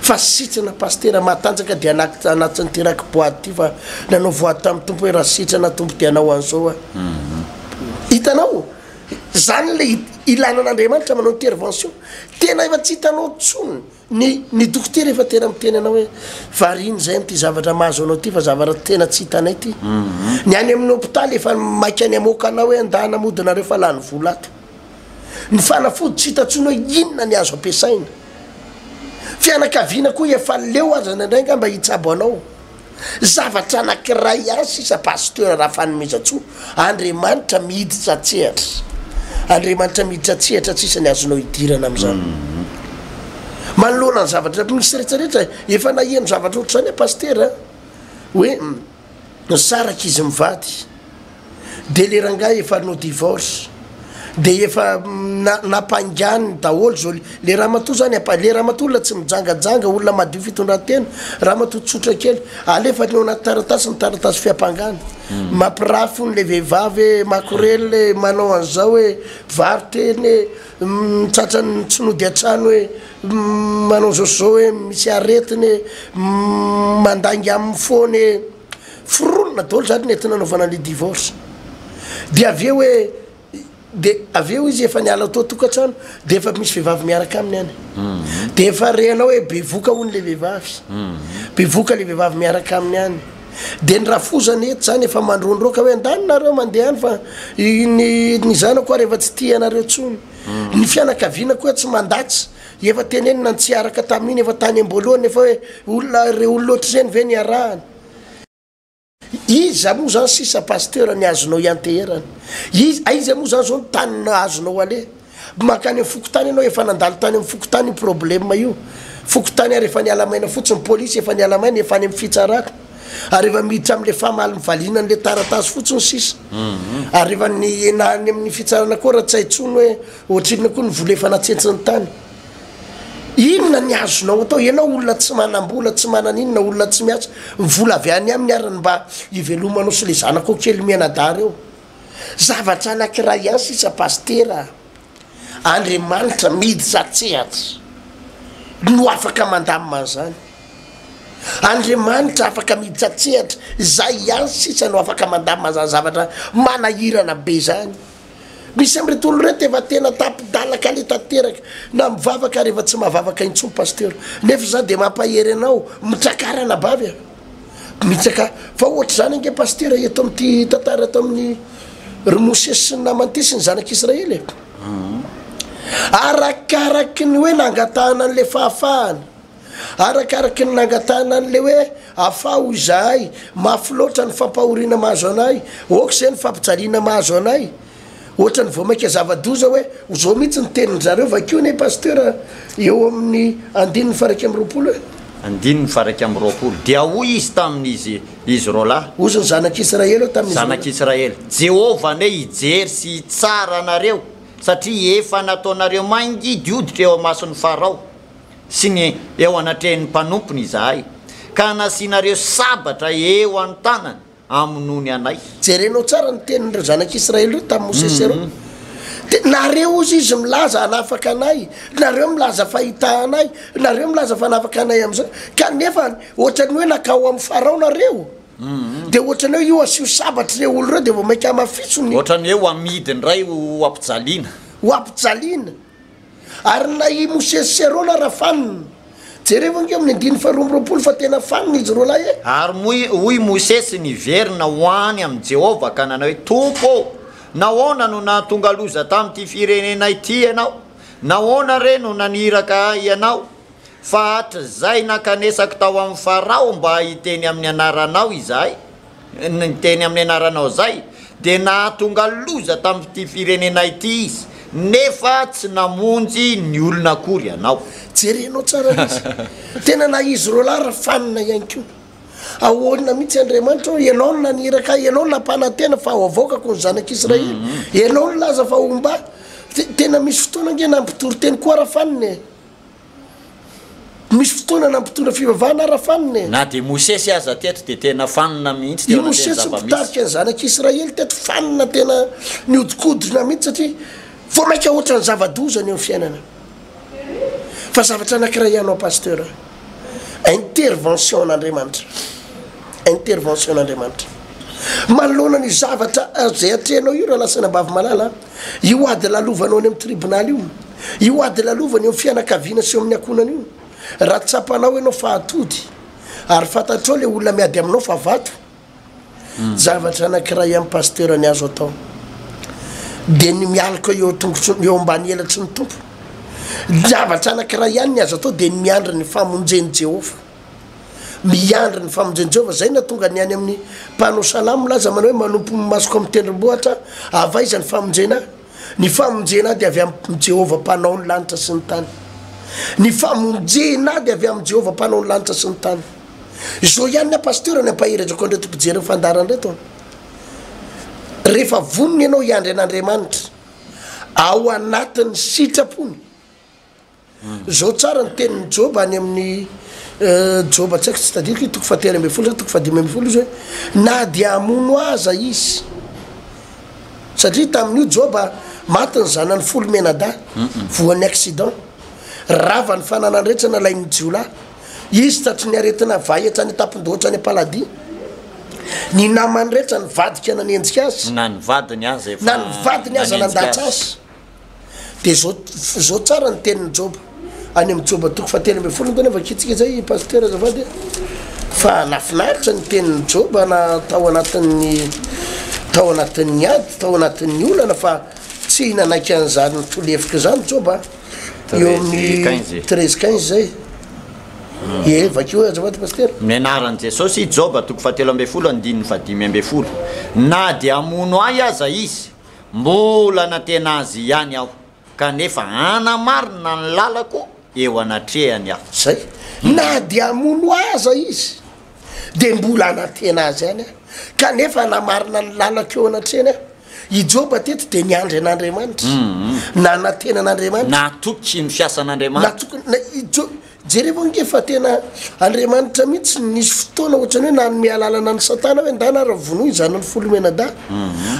Fa sitrana Pasitera, matanjaka dia anaty anatin'ity raki boady ity fa nanao voady tamin'ny Tompo hoe raha sitrana Tompo dia hanao an'izao aho. Hitanao? Zany ilay ilana an'Andriamanitra manao intervention. Tena efa tsy hitanao intsony ny ny dokotera efa tena miteny anao hoe variana izay amin'ity zavatra mahazo anao ity fa zavatra tena tsy hitanay ity. Ny any amin'ny hopitaly efa maika ny hamoaka anao hoe andaha hanamody nareo fa lany vola ato. Ny fanafody tsy hita intsony hoe inona ny azo ampiasaina. Fianakaviana koa efa leo aza indraindray nga mba hitsabo anao. Zavatra anankiray ihany sisa Pasteur Rafanomezantsoa, Andriamanitra miditra an-tsehatra. Andriamanitra miditra an-tsehatra tsisa ny azonao hidirana amin'izany. Manoloana ny zavatra misy rehetra rehetra, efa naheno zavatra ohatr'izany aho Pasteur hoe nisaraka izy mivady. de le rangahy efa hanao divorce de efa napainganiny daholo zao le ramatoa zany apa le ramatoa olona tsy mijangajanga olona madio fitondran-tena ramatoa tsotra kely alefany ao anaty taratasy ny taratasy fiampangana hmm. mapiraha fony le vehivavy e makorely e manao an'izao e variteny e mitsatrany mm, tsy nody an-trano e mm, manao zao zao e misy aretiny e mm, mandainga amin'ny fony e foronina daholo zany nety nanaovana ny divorce de avy eo hoe de avy eo izy efa niala tao tokantrano de efa misy vehivavy miaraka aminy any de efa renao hoe bevoka hono le vehivavy bevoka le vehivavy miaraka aminy any de ny rafozana eto zany efa mandrondroka hoe andany nareo mandeha any fa ny ny zanako ary efa tsy tia anareo tsony ny fianakaviana koa tsy mandatsy Efa tenenina ny tsy araka tamin'iny efa tany amboalohany efa hoe olona ireo olona ohatr'izeny ve no iarahana? Iza moa zany sisa pasteur ny azonao ianteherana? Iza, aiza moa zany zao ny tany no azonao aleha? Mankany amin'ny fokontany ianao efa nandalo tany amin'ny fokontany io problème io. Fokontany ary efa niala maina fotsiny, police efa niala maina efa any amin'ny fitsarana. Ary efa miditra amin'ilay famaly mivaliana an'ilay taratasy fotsiny sisa. Ary efa ny na any amin'ny fitsarana koa raha tsy hay intsony hoe Ohatrinona koa ny vola efa natsentsin'ny tany? Inona ny azonao atao? Ianao olona tsy manam-bola, tsy manana inona, olona tsy miasa, ny vola avy any aminy ary ny mba hivelomanao sy ilay zanakao kely mianadahy ireo. Zavatra anankiray ihany sisa Pasitera a! Andriamanitra miditra an-tsehatra no afaka mandamina an'izany. Andriamanitra afaka miditra an-tsehatra, izay ihany sisa no afaka mandamina izany zavatra manahirana be izany. Misy amin'ireto olona ireto efa tena tapi-dala kale tanteraka na mivavaka ary efa tsy mahavavaka intsony Pasteur. Nefa izaho dia mampahery anao mitrakara anabavy a! Bitsaka fa ohatr'izany ange Pasteur eto amin'ity tantara eto amin'ny ry Mosesy sy ny naman'ity sy ny zanak'Israely e! Arakaraky ny hoe nangatahana an'ilay fahafahana. Arakaraky ny nangatahana an'ilay hoe afaho izahay, mafy loatra ny fampahoriana mahazo anay, ok izay ny fampijaliana mahazo anay, ohatran'ny vao mainka zava-doza hoe ho zao mihitsy ny tenin-dry zareo, vakio anie Pasteur eo amin'ny andininy faha iraika amby roapolo e. Andininy faha iraika amby roapolo, dia hoy Izy tamin'izy izy roalahy. Hozy ny zanak'Israely eo tamin'izy roalahy. Zanak'Israely, Jehovah anie hijery sy hitsara anareo, satria efa nataonareo mangidihoditra eo imason'i Farao. sy ny eo anatrehin'ny mpanompony izahay, ka nasianareo sabatra eo an-tanany hamonoany anay. Jerenao tsara ny tenin'ireo zanak'Israely ireo tamin'i Mosesy ireo. Dia nareo, hozy izy, milaza hanafaka anay, nareo milaza fa hitaha anay, nareo milaza fa hanafaka anay amin'izany, kanefa hoatran'ny hoe nankao amin'i Farao nareo, dia hoatran'ny hoe io asio sabatra ireo olona ireo, dia vao mainka hamafitso ny. Hoatran'ny hoe ho amidy indray ho ampijaliana. Ho ampijaliana. Ary na i Mosesy sy Arona raha fanina. Jerevo ange amin'ny andininy faharoa amby roapolo fa tena fanina izy roa lahy e! Ary moa hoy i Mosesy niverina ho any amin'i Jehovah ka nanao hoe, Tompo ô, nahoana no nahatonga loza tamin'ity firenena ity ianao? Nahoana re no naniraka ahy ianao? Fa hatrizay nankanesako tao amin'i Farao mba hiteny amin'ny anaranao izahay, niteny amin'ny anaranao izay dia nahatonga loza tamin'ity firenena ity izy nefa tsy namonjy ny olona akory ianao. Jerenao tsara izy. Tena na izy roa lahy ry fanina ihany koa. Ahoana mihitsy Andriamanitra hoy, Ianao no naniraka ahy, Ianao no nampanantena fa ho avoakako ny zanak'Israely, Ianao no nilaza fa homba ahy. Tena misy fotoana ange nampitory teny koa ra fanina e. Misy fotoana nampitondra fivavahana ara fanina e! Na dia i Mosesy aza teto dia tena fanina mihitsy teo anatin'ny zava-misy. I Mosesy mpitarika ny zanak'i Israely teto fanina tena nihodikodina mihitsy satria vao maika hoatran'ny zava-doza ny eo amin'ny fiainana. Fa zavatra anankiray ihany hoa Pasteur a! Intervention n'Andriamanitra. Intervention n'Andriamanitra. Manoloana ny zavatra izay atrehinao io Ralasanabavy malala a! io ady lalovanao any amin'ny tribonaly io, io ady lalovana eo amin'ny fianakaviana sy eo amin'ny ankohonana io, raha tsapanao ianao fa atody ary fantatrao ilay olona miady aminao fa vato, hmm. zavatra anankiray amin'ny pasteur ny azo atao dia ny mialoka eo tongotry eo ambany elatry ny tompo, zavatra anankiray ihany ny azo atao dia ny miandry ny famonjen'i Jehovah. Miandry ny famonjen'i Jehovah izay no hahatonga ny any amin'ny mpanao salamo milaza manao hoe, Manompo ny masoko amin'ny tendrombohitra aho. Avy aiza ny famonjena ahy? Ny famonjena ahy dia avy amin'i Jehovah Mpanao ny lanitra sy ny tany. Ny famonjena ahy dia avy amin'i Jehovah Mpanao ny lanitra sy ny tany. Izao ihany ny ahy pasitera no hampaherezako an'ireto mpijery ny fandaharana ireto an! Rehefa vonona ianao hiandry an'Andriamanitra ao anatin'ny sitrapony Izao tsara ny tenin'i Joba any amin'ny Joba tsy haiko tsy tadidiko i toko fahatelo ambin'ny folo sa toko fahadimy ambin'ny folo izy hoe na dia hamono aza izy satria tamin'io Joba maty ny zanany folo mianadahy voan'ny accident rava ny fananany rehetra nalain'ny jiolahy izy tratry ny aretina vay hatrany an-tampon-dohatra any am-paladia ny namany rehetra nivadika nanenjika azy na ny vadiny aza efa na ny vadiny aza nandàtra azy Dia zao zao tsara ny tenin'i Joba any amin'ny Joba toko fahatelo ambin'ny folo angamba vakintsika izay Pasitera azafady a. Fa nafinaritra ny tenin'i Joba na tao anatin'ny tao anatin'ny ady, tao anatin'ny olana fa tsy nanaiky an'izany tolefika izany Joba a. Eo amin'ny treize quinze izay. Ie, vakio azafady Pasitera. Ny anaran'i Jesosy, Joba toko fahatelo ambin'ny folo andininy fahadimy ambin'ny folo. Na dia hamono ahy aza izy. Mbola nanatena Azy ihany aho, kanefa hanamarina ny lalako eo anatrehany aho. Izay. Na dia hamono ahy aza Izy, dia mbola hanantena Azy ihany aho, kanefa hanamarina ny lalako eo anatrehany aho. I Joba teto dia niandry an'Andriamanitra. Nanantena an'Andriamanitra. Natoky ny fiasan'Andriamanitra. Natoky, na, i Joba. Jereo ange fa tena Andriamanitra mihitsy no nisy fotoana ohatrany hoe nanome alalana an'i Satana hoe ndana ary vonoy izany ny folo menadahy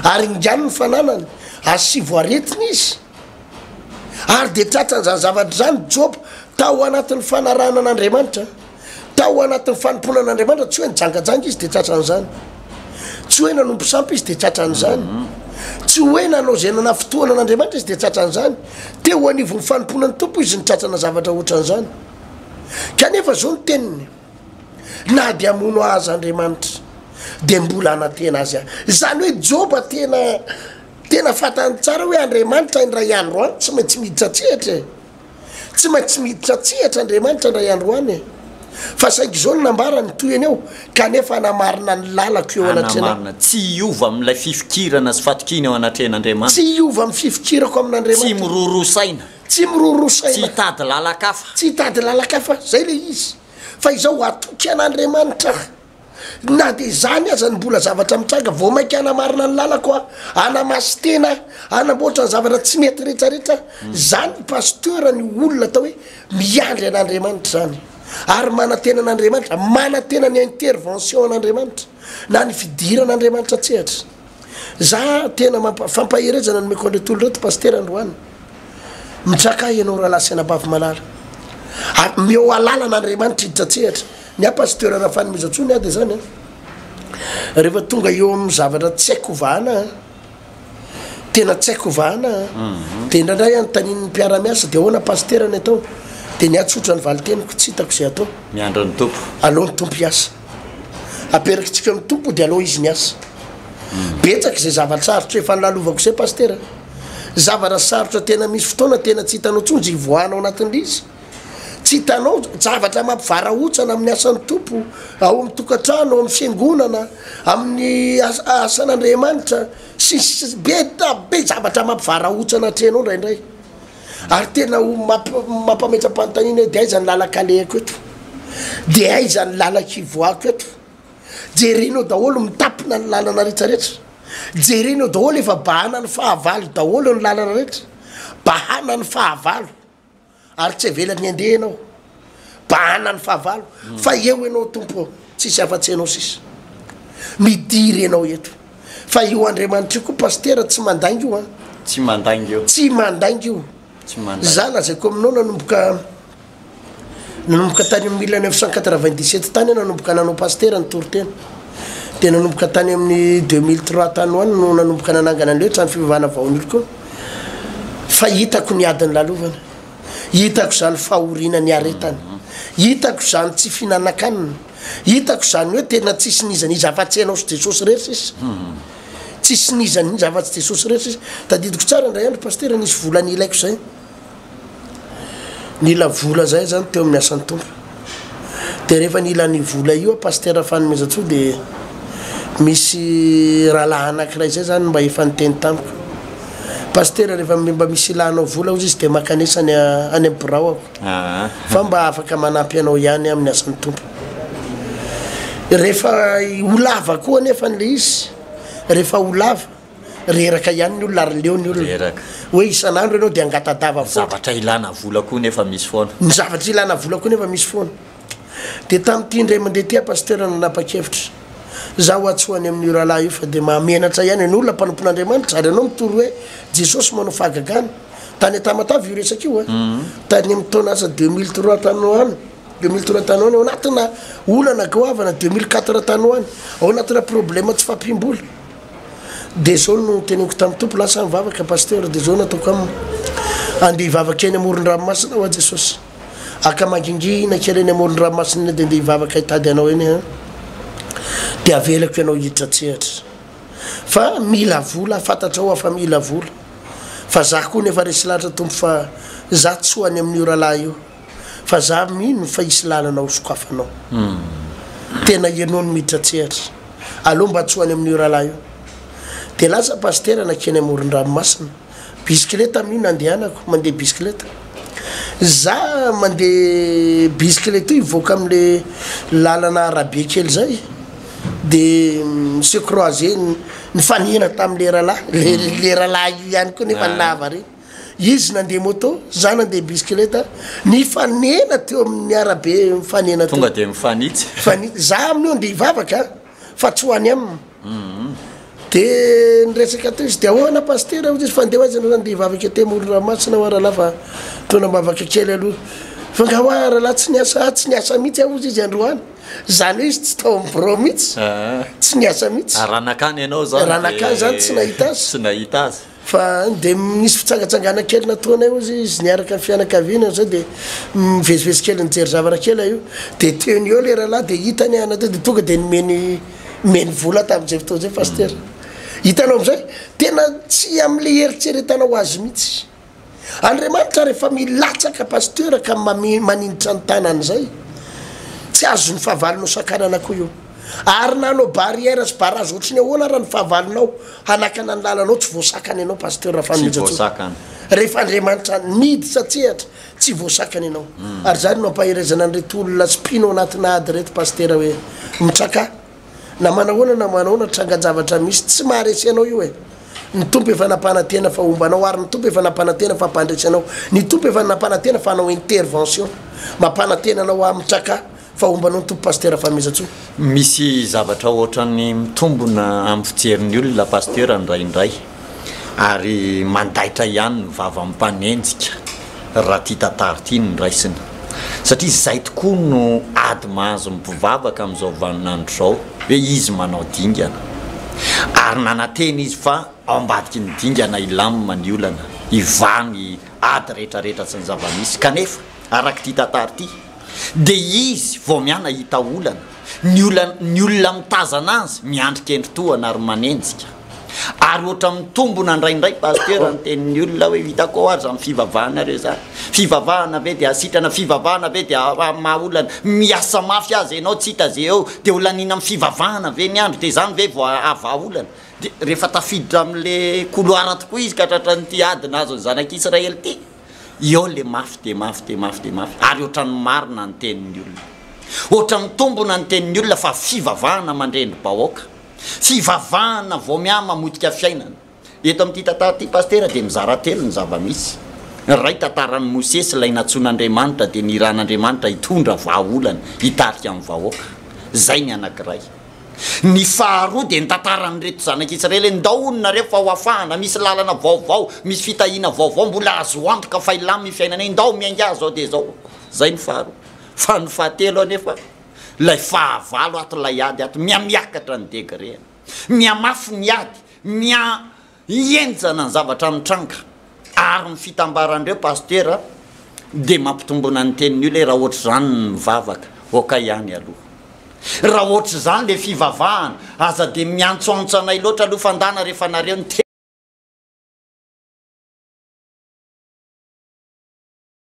ary ingano ny fananany, asivo aretina izy. Ary dia tratran'izany zavatra izany Joba, tao anatin'ny fanarahana an'Andriamanitra, tao anatin'ny fanompoana an'Andriamanitra, tsy hoe nijangajanga izy dia tratran'izany, tsy hoe nanompo sampy izy dia tratran'izany, tsy hoe nanao izay nanafintohina an'Andriamanitra izy dia tratran'izany, Te ho anivon'ny fanompoana ny Tompo izy nitratrana zavatra hoatran'izany. Kanefa izao ny teniny, na dia hamono ahy aza Andriamanitra, dia mbola hanantena azy aho. Izany hoe Joba tena tena fantany tsara hoe Andriamanitra indray andro any tsy maintsy miditra an-tsehatra e. Tsy maintsy miditra an-tsehatra Andriamanitra indray andro any e. Fa saiky izao no nambarany, toy an'io, kanefa hanamarina ny lalako eo anatrehanao. Hanamarina, tsy hiova amin'ilay fifikirana sy fatokiana eo anatrehan'Andriamanitra. Tsy hiova amin'ny fifikirako amin'Andriamanitra. Tsy miroro saina. Tsy miroro saina. Tsy hitady lalakafa. Tsy hitady lalakafa, izay ilay izy, fa izao, hatoky an'Andriamanitra aho. Na dia izany aza ny mbola zavatra mitranga, vao mainka hanamarina ny lalako aho, hanamaso tena aho, hanamboatra ny zavatra tsy mety rehetrarehetra. Izany ny pasteur, ny olona atao hoe miandry an'Andriamanitra izany ary manantena an'Andriamanitra, manantena ny intervention an'Andriamanitra na ny fidiran'Andriamanitra an-tsehatra. Za tena mampa fampaherezana nomeko an'reto olo reto pasitera androany mitsaka ianao rahalahy sy anabavy malala a meo alalana andriamanitra hiditra tsehatra ny a pasteur rafanimizatsony ah de zany a rehefa tonga eo amin'ny zavatra tsy haiko hovahana a tena tsy haiko hovahana a de indraindray anontanin'ny mpiaramiasa de ahoana pasitera ny atao de ny ahy tsotra ny valiteniko tsy hitako zay atao Miandry ny Tompo. aleo ny tompo hiasa Aperakitsika amin'ny Tompo dia alao Izy ny asa. Betsaka izay zava-tsarotra efa nolalovako izay Pasitera. Zavana sarotra tena misy fotoana tena tsy hitanao intsony izay hivoahana ao anatin'lzy. Tsy hitanao zavatra mampivarahontsana amin'ny asan'ny Tompo, ao amin'ny tokantrano, ao amin'ny fiangonana, amin'ny asan'Andriamanitra, sy ny sisa Be zavatra mampivarahontsana atrehinao indraindray. Ary tena ho mampametra-panontaniana hoe dia aiza ny lalaka alehako eto? Dia aiza ny lalaka ivoahako eto? Jerena eo daholo mitapina ny lalana rehetrarehetra. Jerena eo daholo efa bahana ny fahavalo daholo ny lalana rehetra. Bahana ny fahavalo ary tsy avelan'ny handeha ianao. Bahana ny fahavalo fa eo ianao Tompo ô, tsisy afa-tsy ianao sisa. Midiry ianao eto. Fa io Andriamanitra io koa Pasitera tsy mandainga io an. Tsy mandainga io. Tsy mandainga io. Tsy mandainga. Za lazaiko aminao nanomboka nanomboka tany amin'ny mille neuf cent quatre vingt dix sept tany aho nanomboka nanao Pasitera ny toriteny. Dia nanomboka tany amin'ny deux mille trois tany ho any no nanomboka nanangana an'ilay hoe trano fivavahana Vaonilko. Fa hitako ny adin'ny lalovana. Hitako izany fahoriana niaretany. Hitako izany tsy fihinanan-kanina. Hitako izany hoe tena tsisy n'iza n'iza afa-tsy ianao sy Jesosy irery sisa. Tsisy n'iza n'iza afa-tsy Jesosy irery sisa. Tadidiko tsara indray andro Pasitera nisy vola nilaiko izay. Nila vola izahay izany teo amin'ny asan'ny Tompo. de rehefa nila an'io vola io a Pasitera Fanomezantsoa de misy rahalahy anakiray zay zany mba efa niteny tamiko Pasitera rehefa mba misy ila anao vola ozy izy de makanesa any any amin'ny birao aho fa mba afaka manampy anao ihany amin'ny asan'ny Tompo rehefa ho lava koa anefany le izy rehefa ho lava Reraka ihany ny olona ary leo ny olona. Reraka. Hoe isan'andro ianao dia angatadava foana. Ny zavatra ilana vola koa nefa misy foana. Ny zavatra ilana vola koa nefa misy foana. Dia tamin'ity indray mandeha ity aho Pasitera no nanapa-kevitra. Izaho ho'a tsy ho any amin'io rahalahy io fa dia mahamenatra ihany an'io olona mpanompon'Andriamanitra ary ianao mitory hoe Jesosy manao fahagagana. Tany Antamatave io resaka io an. Tany amin'ny taona asa deux mille trois tany ho any. Deux mille trois tany ho any. Ao anatina olana goavana deux mille quatre tany ho any. Ao anatina problema tsy fahampiam-bola. Dia zao no noteneniko tamin'ny Tompo, lasa aho nivavaka Pasteur, dia zao no ataoko aminy, andeha hivavaka eny amoron-dranomasina aho aho Jesosy a, ka mangingina kely eny amoron-dranomasina eny dia ndeha hivavaka hitady Anao eny aho, dia avelako Ianao hiditra an-tsehatra, fa mila vola aho, fantatrao aho fa mila vola, fa za koa nefa resy lahatra Tompo fa za tsy ho any amin'io rahalahy io. Fa za mino fa hisy lalana ho sokafanao. Tena ianao no miditra an-tsehatra. Aleo mba tsy ho any amin'io rahalahy io. Dia lasa pasitera nankeny amoron-dranomasina. Bisikileta mi nandehanako, mandeha bisikileta. Za mandeha bisikileta io hivoaka amin'le lalana arabe kely zay dia se croiser, nifanena tamin'le rahalahy, le rahalahy io ihany koa nefa nahavariana. Izy nandeha moto, za nandeha bisikileta, nifanena teo amin'ny arabe mifanena teo. Tonga dia mifanitsy. Mifanitsy. Za amin'io andeha hivavaka fa tsy ho any aminy. Mhm. Dia niresaka teo izy, dia ahoana Pasitera hoy izy, fa ndeha ho aiza ianao andeha hivavaka ety amoron-dranomasina hoa rahalahy fa toa nambavaka kely aloha. Fa nga hoa rahalahy tsy niasa, ah tsy niasa mihitsy aho hoy izy androany. Izany hoe izy tsy tao amin'ny birao mihitsy, Ah. tsy niasa mihitsy. Ary raha nankany ianao izany dia. Raha nankany izany tsy nahita azy. Tsy nahita azy. Fa dia nisy fitsangatsangana kely nataonay hozy izy niaraka ny fianakaviana izay dia mivezivezy kely nijery zavatra kely aho io dia teo ny eo ilay rahalahy dia hitany ahy natao dia tonga dia nomeny nomeny vola tamin'izay fotoana izay pasitera hitanao amin'izay tena tsy amin'ilay heritreretana ho azy mihitsy Andriamanitra ary efa milatsaka pasteur ka maninitra ny tanany zay tsy azony fahavalo nosakanana ko io ary nanao barrière sy barrage ohatry ny ahoana ary ny fahavalonao hanakana ny lalanao tsy voasakana ianao pasteur Rafanomezantsoa rehefa Andriamanitra nidy satsehatra tsy voasakana ianao ary zany no ampaherezana an'ireto olona spino anatina ady ireto pasteur hoe mitraka na manahoana na manahoana trangan-javatra misy tsy maharesy anao io e! ny Tompo efa nampanantena fa homba anao ary ny Tompo efa nampanantena fa mpandresy anao ny Tompo efa nampanantena fa hanao intervention mampanantena anao aho mitraka fa homba anao ny Tompo Pasteur Famezantsoa. Misy zavatra ohatran'ny mitombona amin'ny fijerin'ny olona Pasteur indraindray. ary mandaitra ihany ny vava mpanenjika raha ity tantara ity no raisina satria izay tokoa no ady mahazo ny mpivavaka amin'izao vaninandro izao hoe izy manao dingana ary nanantena izy fa ao ambadiky ny dingana hilamina ny olana hivaha ny ady rehetrarehetra sy ny zava-misy kanefa araka ity tantara ity dia izy vao miana hita olana ny olana ny olona mitazana azy miandry kendry tohana ary manenjika Ary ohatra mitombona ndray ndray pasteur ny tenin'ny olona hoe hitako ao ary zany fivavahanareo zany fivavahana ve dia sitrana fivavahana ve dia maha olana miasa mafy aza ianao tsy hita ze eo dia ho laniana amin'ny fivavahana ve ny andro dia zany ve vao hahavaha olana dia rehefa tafiditra amle couloir tokoa izy ka tratran'ity ady nahazo ny zanak'israely ity eo le mafy dia mafy dia mafy dia mafy ary ohatran'ny marina ny tenin'ny olona ohatra mitombona ny tenin'ny olona fa fivavahana mandre ny bahoaka Fivavahana vao mihamamotika fiainana. Eto amin'ity tantara ity Pasitera dia mizara telo ny zava-misy. Ny iray tantaran'i Mosesy ilay nantsoin'Andriamanitra dia nirahan'Andriamanitra hitondra vahaolana hitarika ny vahoaka. Izay ny anankiray. Ny faharoa dia ny tantaran'ireto zanak'i Israely hoe ndao hono nareo fa ho afahana, misy lalana vaovao, misy fitahiana vaovao, mbola azo antoka fa hilamina ny fiainanay, ndao miainga azy izao dia izao. Izay ny faharoa. Fa ny fahatelo anefa Ilay fahavalo ato, ilay ady ato, mihamiakatra ny degreny, mihamafy ny ady, miha-henjana ny zavatra mitranga. Ary ny fitambaran'ireo pasitera dia mampitombona ny tenin'ny olona hoe raha ohatr'izany ny mivavaka, ok ihany aloha. Raha ohatr'izany ilay fivavahana, aza dia miantsoantso anay loatra aloha fa ndana rehefa nareo ny.